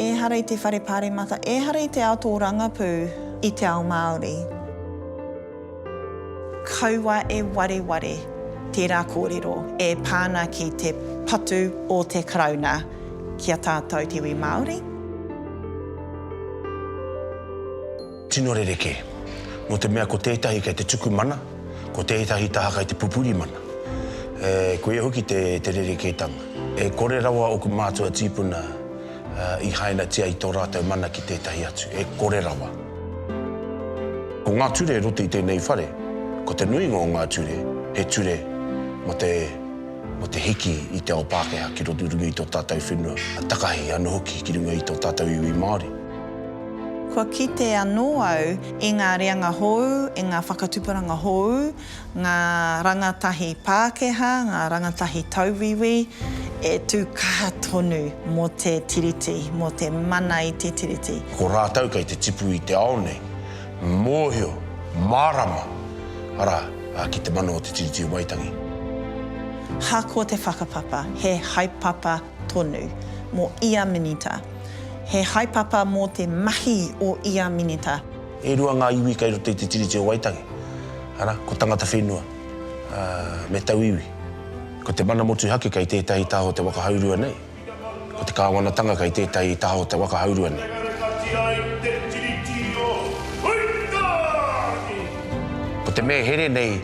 Ehara i te whare paremata, ehara i te ao tōrangapū i te ao Māori. Kaua e wareware tērā kōrero e pā ana ki te patu o te Karauna ki a tātou te iwi Māori. Tino rerekē. Nō te mea ko tētahi kei te tuku mana, ko tētahi taha kei te pupuri mana. E, koia hoki te, te rerekētanga. E kore rawa ōku mātua tīpuna i hainatia i tō rātou mana ki tētahi atu. E kore rawa. Ko ngā ture e roto i tēnei whare, ko te nuinga o ngā ture, he ture mō te, mō te hiki i te ao Pākehā ki runga i tō tātou whenua, takahi anō hoki ki runga i tō tātou iwi Māori. Kua kite anō au i ngā reanga hou, i ngā whakatuparanga hou, ngā rangatahi Pākehā, ngā rangatahi tauwiwi e tū kaha tonu mō te Tiriti, mō te mana i te Tiriti. Ko rātou kei te tipu i te ao nei, mōhio, mārama, arā, ki te mana o te Tiriti o Waitangi. Ahakoa te whakapapa, he haepapa tonu mō ia minita. He haepapa mō te mahi o ia minita. E rua ngā iwi kei roto i te Tiriti o Waitangi, arā, ko Tangata Whenua me Tauiwi. Ko te mana motuhake kei tētahi taha o te waka haurua nei. Ko te kāwanatanga kei tētahi taha o te waka haurua nei. Ko te mea here nei.